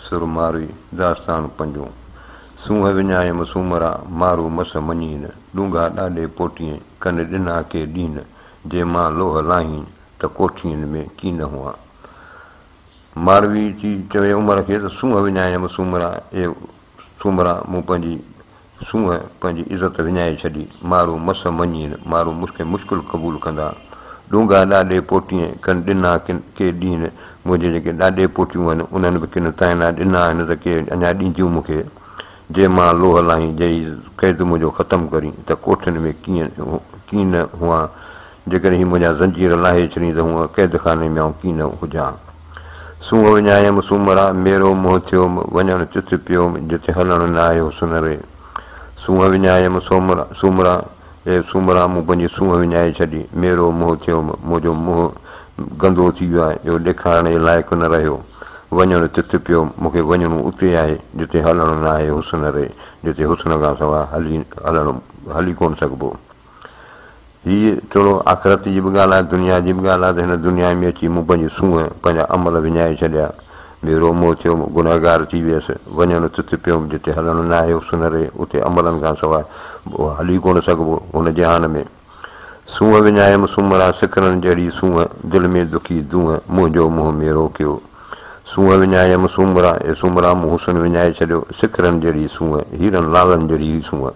سر مارئي داستان پنجون، سونهن وڃايم سومرا، مارو مس مڃين، ڏونگها ڏاڏي پوٽيئين، ڪن ڏنا ڪي ڏين، جي مان لوهه لاهين، ته ڪوٺين ۾ ڪين هئا. ماروي چيو عمر کي ته سونهن وڃايم سومرا، اي سومرا مون پنهنجي سونهن پنهنجي عزت وڃائي ڇڏي، مارو مس مڃين، مارو مس کي مشڪل قبول ڪندا، ڏونگا ڏاڏي پوٽين ڪن ڏنا ڪن ڪي ڏين، منهنجي جيڪي ڏاڏي پوٽيون هن انهن به ڪن تائنا ڏنا آهن ته ڪي اڃا ڏينديون مون کي، جي مان لوهه لاهين جي هي قيد منهنجو ختم ڪرين ته ڪوٺين ۾ ڪيئن ڪين نه هئان، جيڪڏهن هي منهنجا زنجير لاهي ڇڏين ته هونء قيدخاني ۾ آئون ڪين نه هجان. سونهن وڃايم سومرا، ميرو منهن ٿيوم، وڃڻ چٿ پيوم، جتي هلڻ ناهي حسن ري. سونهن وڃايم سومرا، اي سومرا مون پنهنجي سونهن وڃائي ڇڏي، ميرو منهن ٿيوم، منهنجو منهن گندو ٿي ويو آهي، اهو ڏيکارڻ جي لائق نه رهيو، وڃڻ چٿ پيوم، مون کي وڃڻو اتي آهي، جتي هلڻ ناهي حسن ري، جتي حسن کان سواء هلي ڪونه سگهبو. هيء چڙو آخرت جي به ڳالهه آهي، دنيا جي به ڳالهه آهي ته هن دنيا ۾ اچي مون پنهنجي سونهن، پنهنجا عمل وڃائي ڇڏيا. بي رومو ٿيو، گنهگار ٿي ويس. وڃڻ ات تي پيم، جتي هلڻ نه آهي سنري، اتي عملن کان سواء به هلي ڪونه سگهبو. هن جهان ۾ سونهن وڃايم، سومرا سڪرن جهڙي سونهن، دل ۾ دکي دونهن، منهنجو منهن ميرو ڪيو. سونهن وڃايم، سومرا! اي سومرا! مون حسن وڃائي ڇڏيو، سڪرن جهڙي سونهن، هيرن لعلن جهڙي هئي سونهن.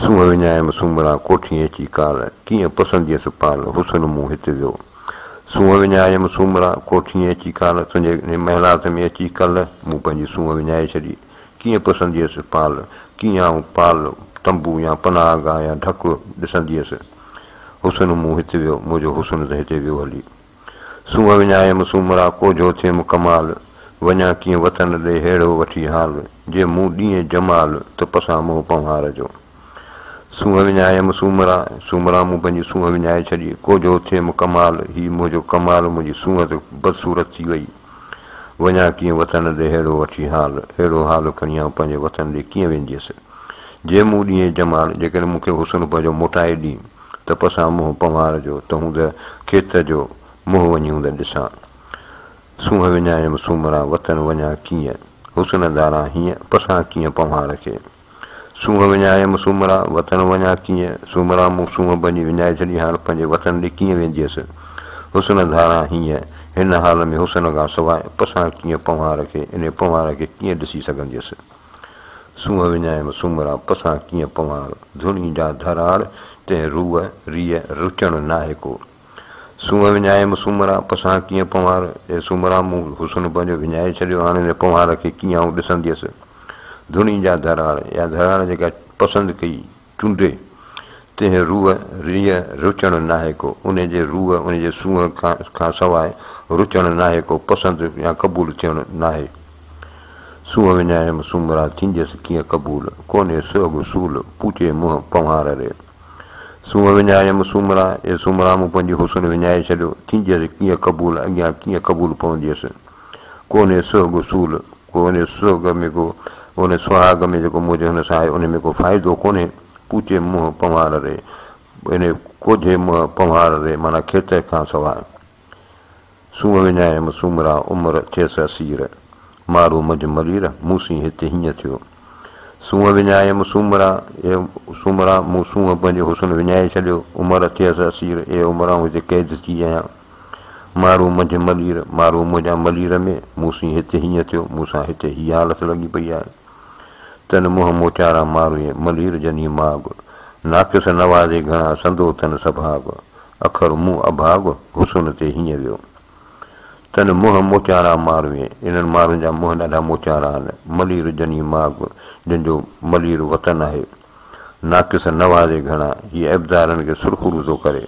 سونهن وڃايم سومرا ڪوٺيء اچي ڪال، ڪيئن پسنديس پال، حسن مون هت ويو. سونهن وڃايم سومرا ڪوٺيء اچي ڪال، تنهنجي انهي محلات ۾ اچي ڪل، مون پنهنجي سونهن وڃائي ڇڏي. ڪيئن پسنديس پال، ڪيئن آئون پال، تنبو يا پناهه گاهه يا ڍڪ ڏسنديس. حسن مون هت ويو، منهنجو حسن ته هتي ويو هلي. سونهن وڃايم سومرا ڪوجهو ٿيم ڪمال وڃان ڪيئن وطن ڏي ههڙو وٺي حال جي مون ڏيئين جمال ته پسان منهن پنهوار جو سونهن وڃايم سومرا سومرا مون پنهنجي سونهن وڃائي ڇڏي ڪوجهو ٿيم ڪمال هي منهنجو ڪمال منهنجي سونهن ته بدصورت ٿي وئي وڃان ڪيئن وطن ڏي ههڙو وٺي حال ههڙو حال کڻي آئون پنهنجي وطن ڏي ڪيئن وينديس جي مون ڏيئين جمال جيڪڏهن مون کي حسن پنهنجو موٽائي ڏيئين تپ سان منهن پنوار جو، تهون ده کيتر جو منهن وڃيون ده ڏسان. سونهن وڃايم سومران وطن وڃان ڪيئن، حسن ڌاران هيئن پسان ڪيئن پنوار کي. سونهن وڃايم سومران وطن وڃان ڪيئن، سومران مون سونهن ڀڃي وڃائي ڇڏي هاڻ پنهنجي وطن ڏي ڪيئن وينديس. حسن ڌاران هيئن، هن حال ۾ حسن کان سواء پسان ڪيئن پنوار کي، انهي پنوار کي ڪيئن ڏسي سگهنديس. سونهن وڃايم سومرا پسان ڪيئن پوان ڌڻي جا ڌراڙ تنهن روء ريء رچڻ ناهي ڪو سونهن وڃايم سومرا پسان ڪيئن پوان اي سومرا مون حسن پنهنجو وڃائي ڇڏيو هاڻي هن پوهار کي ڪيئن آئون ڏسنديس ڌڻي جا ڌراڙ اها ڌراڙ جيڪا پسند ڪئي چونڊي، تنهن روح ريء رچڻ ناهي ڪو، انهي جي روح انهي جي سونهن کان سواء رچڻ ناهي ڪو، پسند يا قبول ٿيڻ ناهي. سونهن وڃايم سومرا، ٿينديس ڪيئن قبول، ڪونهي سو اڳ سول، پوچي منهن پنهار ري. سونهن وڃايم سومرا، اي سومرا مون پنهنجي حسن وڃائي ڇڏيو، ٿينديس ڪيئن قبول، اڳيان ڪيئن قبول پونديس، ڪونهي سو اڳ سول، ڪو ان سهڳ ۾ ڪو ان سهاڳ ۾ جيڪو منهنجي هن سان آهي ان ۾ ڪو فائدو ڪونهي پوچي منهن پنهوار ري ان ڪوجهي منهن پنهوار ري معنيٰ کيت کان سواء سونهن وڃايم سومرا عمر ٿيس اسير مارو منجهه ملير مون سين هت هيئن ٿيو سونهن وڃايم سومرا اي سومرا مون سونهن پنهنجي حسن وڃائي ڇڏيو عمر ٿيس اسير اي عمر آئون هتي قيد ٿي آهيان. مارو منجهه ملير، مارو منجهان ملير ۾، مون سين هت هيئن ٿيو، مون سان هتي هيء حالت لڳي پئي آهي. تن منهن موٽيارا ماروئي، ملير جني ماڳ، ناقص نوازي گهڻا، سندو تن سڀاڳ، اکر مون اڀاڳ، حسن تي هيئن ويو. تن منهن موٽيارا ماروئي، انهن ماروئن جا منهن ڏاڍا موٽيارا آهن، ملير جني ماڳ، جن جو ملير وطن آهي. ناقص نوازي گهڻا، هي عيبدارن کي سرخرو ٿو ڪري.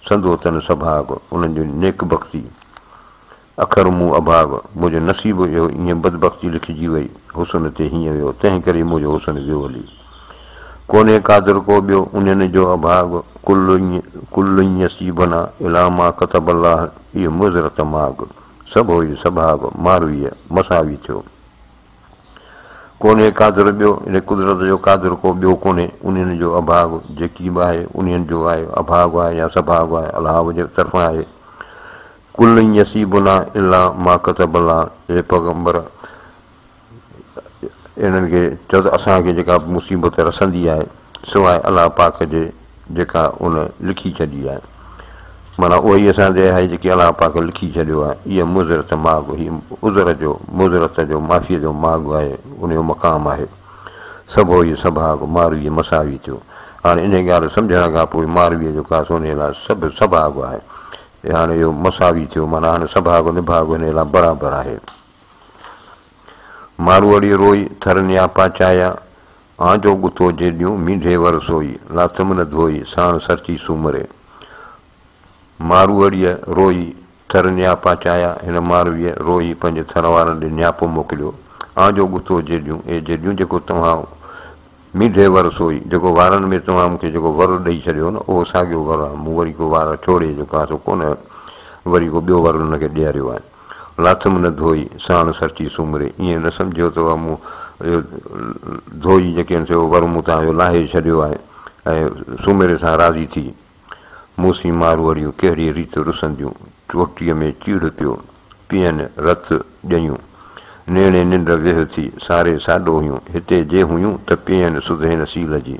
سندو تن سڀاڳ، انهن جون نيڪبختي. اکر مون اڀاڳ، منهنجو نصيب اهو ايئن بدبختي لکجي وئي، حسن تي هيئن ويو، تنهن ڪري منهنجو حسن ويو هلي. ڪونهي قادر ڪو ٻيو، انهن جو اڀاڳ، ڪل ڪل يصيبنا اليٰ ما ڪتب الله، اهو مضر تماڳ، سڀوئي سڀاڳ، مارويء مساوي ٿيو. ڪونهي قادر ٻيو، ان قدرت جو قادر ڪو ٻيو ڪونهي، انهين جو اڀاڳ جيڪي به آهي، انهين جو آهي، اڀاڳ آهي يا سڀاڳ آهي، الله جي طرفان آهي. قل لن يصيبنا الا ما ڪتب الله، اي پيغمبر! انهن کي چؤ ته اسان کي جيڪا به مصيبت رسندي آهي، سواء الله پاڪ جي جيڪا ان لکي ڇڏي آهي. معنيٰ اهو ئي اسان تي آهي جيڪي الله پاڪ لکي ڇڏيو آهي. اهي معذرت ماڳ، هي عذر جو، معذرت جو، معافيء جو ماڳ آهي، ان جو مقام آهي. سڀو هي سڀاڳ مارويء مساوي ٿيو. هاڻي انهيء ڳالهه سمجهڻ کان پوء مارويء جو ڪاس انهيء لاء سڀ سڀاڳ آهي. هاڻي اهو مساوي ٿيو، معنيٰ هاڻي سڀاڳ نڀاڳ انهيء لاء برابر آهي. ماروئڙي روئي ٿر نياپا چاهيا، آن جو ڳتو جيڏيون مينڍي ور سوئي، لاٿم نه ڌوئي ساڻ سرچي سومري. ماروئڙيء روئي ٿر نيا پاچايا، هن مارويء روئي پنهنجي ٿر وارن ڏي نياپو موڪليو. آن جو ڳتو جيڏيون، اي جيڏيون جيڪو توهان مينڍي ور سوئي، جيڪو وارن ۾ توهان مون کي جيڪو ور ڏئي ڇڏيو نه، اهو ساڳيو ور آهي، مون وري ڪو وار ڇوڙي جيڪو آهي سو ڪونه وري ڪو ٻيو ور ان کي ڏياريو آهي. لاٿم نه ڌوئي، ساڻس اچي سومري. ائين نه سمجهيو ته اها مون اهو ڌوئي جيڪين سيو ور مون تان اهو لاهي ڇڏيو آهي ۽ سومري سان راضي ٿي. مون سين ماروئڙيون ڪهڙيء ريت رسنديون. چوٽيء ۾ چيڙهه پيو پيئن رت ڄڃون. نيڻي ننڊ ويهه ٿي ساري ساڏو هيون. هتي جي هيون ته پيئن سڌين سيل جي.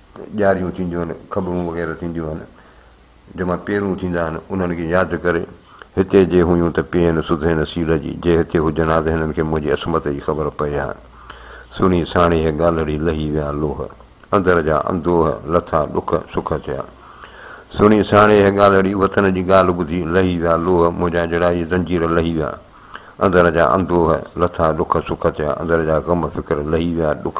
ڏياريون ٿينديون آهن، خبرون وغيره ٿينديون آهن، جنهن مان پيرون ٿيندا آهن، انهن کي ياد ڪري، هتي جي هيون ته پيئن سڌين سيل جي، جي هتي هجن ها ته هنن کي منهنجي عصمت جي خبر پئي ها. سڻي ساڻي هي ڳالهڙي لهي ويا لوهه، اندر جا اندوهه لٿا ڏک سک ٿيا. سڻي ساڻي هي ڳالهڙي وطن جي ڳالهه ٻڌي لهي ويا لوهه، منهنجا جڙا اهي زنجير لهي ويا. اندر جا اندوهه لٿا ڏک سک ٿيا، اندر جا غم فڪر لهي ويا ڏک.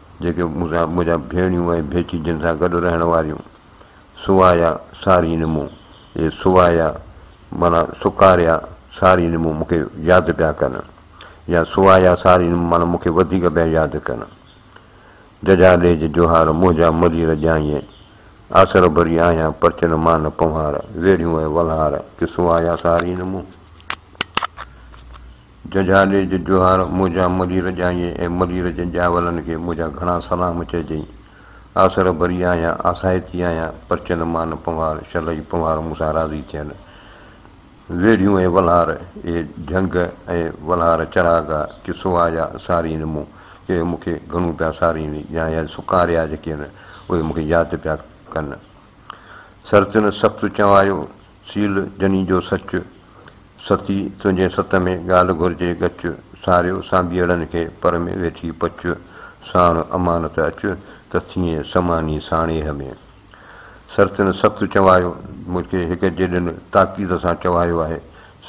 جيڪي مون سان منهنجا ڀيڻيون ۽ ڀيچيجن سان گڏ رهڻ واريون سوايا سارين مون اهي سوايا معنيٰ سڪاريا سارين مون مون کي ياد پيا ڪن يا سوايا سارين مون معنيٰ مون کي وڌيڪ پيا ياد ڪن ججها ليج جوهار منهنجا ملير ڄائينء آسر ڀري آهيان پرچن مان پنهار ويڙهيون اي ولهار ڪي سوايا سارين مون. ججهالي جي جهار منهنجا ملير ڄائينء ۽ ملير جي ڄاولن کي منهنجا گهڻا سلام چئجئي. آسر ڀري آهيان، آسائتي آهيان، پرچين مان پنهوار، شلئي پنهوار مون سان راضي ٿين. ويڙهيون ۽ ولهار، اهي جهنگ ۽ ولهار چراگا ڪي سوايا سارين مون، ڪي مون کي گهڻو پيا سارين يا اهي سڪاريا جيڪي آهن، اهي مون کي ياد پيا ڪن. سرتين سخت چوايو. سيل جني جو سچ، ستي تنهنجي ست ۾ ڳالهه گهرجي ڳچ، ساريو سانڀيئڙن کي پر ۾ ويٺي پچ، ساڻ امانت اچ ته ٿئين سماني ساڻيهه ۾. سرتين سخت چوايو، مون کي هڪ جيڏن تاڪيد سان چوايو آهي،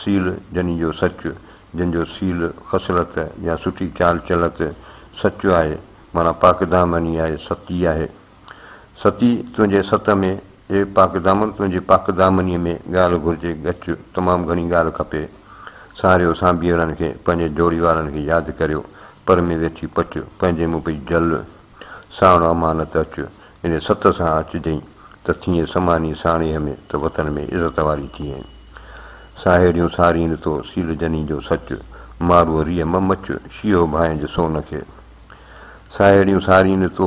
سيل جني جو سچ، جن جو سيل، خصلت يا سٺي چال چلت، سچ آهي، معنيٰ پاڪدامني آهي، ستي آهي. ستي تنهنجي ست ۾، اي پاڪ دامن تنهنجي پاڪ دامنيء ۾، ڳالهه گهرجي ڳچ، تمام گهڻي ڳالهه کپي. سانريو سانڀيئڙن کي، پنهنجي جوڙي وارن کي ياد ڪريو، پر ۾ ويٺي پچ، پنهنجي مون پئي جل، ساڻ امانت اچ، ان ست سان اچجئين، ته ٿئين سماني ساڻيهه ۾، ته وطن ۾ عزت واري ٿئين. ساهيڙيون سارين تو، سيل جني جو سچ، ماروء ريء مه مچ، شيهو ڀانئج سون کي. ساهيڙيون سارين تو،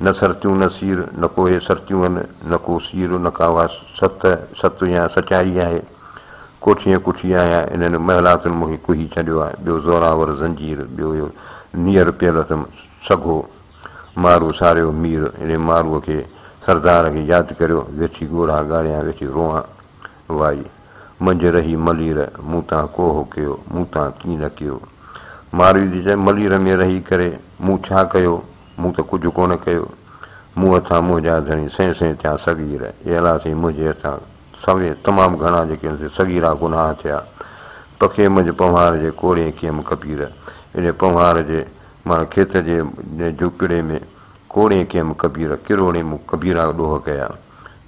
نه سرتيون نه سير، نه ڪو هي سرتيون هن، نه ڪو سير، نه ڪا اها ست، ست يا سچائي آهي. ڪوٺي ۽ ڪٺي آهيان، انهن محلاتن مون کي ڪهي ڇڏيو آهي، ٻيو زورآور زنجير، ٻيو اهو نيئر پيل اٿم، سگهو، مارو ساريو مير، انهي مارو کي، سردار کي ياد ڪريو، ويٺي ڳوڙها ڳاڙيان، ويٺي روئان. وائي! منجهه رهي ملير، مون تان ڪوهه ڪيو، مون تان ڪين ڪيو. ماروي ٿي چئي، ملير ۾ رهي ڪري، مون ڇا ڪيو؟ مون ته ڪجهه ڪونه ڪيو، مون هٿان منهنجا ڌڻي سين سين ٿيا صغير، اي الله سائين منهنجي هٿان سوين تمام گهڻا جيڪي ان سين صغيرا گناهه ٿيا، پکي منجهه پنهوار جي ڪوڙين ڪيم ڪبير، اڙي پنهوار جي معنيٰ کيت جي جهوپڙي ۾ ڪوڙين ڪيم ڪبير، ڪروڙين مون ڪبيرا ڏوهه ڪيا،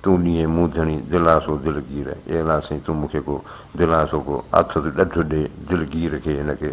تون ڏينهين مون ڌڻي دلاسو دلگير، اي الله سائين تون مون کي ڪو دلاسو ڪو آٿت ڏڍ ڏي دلگير کي هن کي.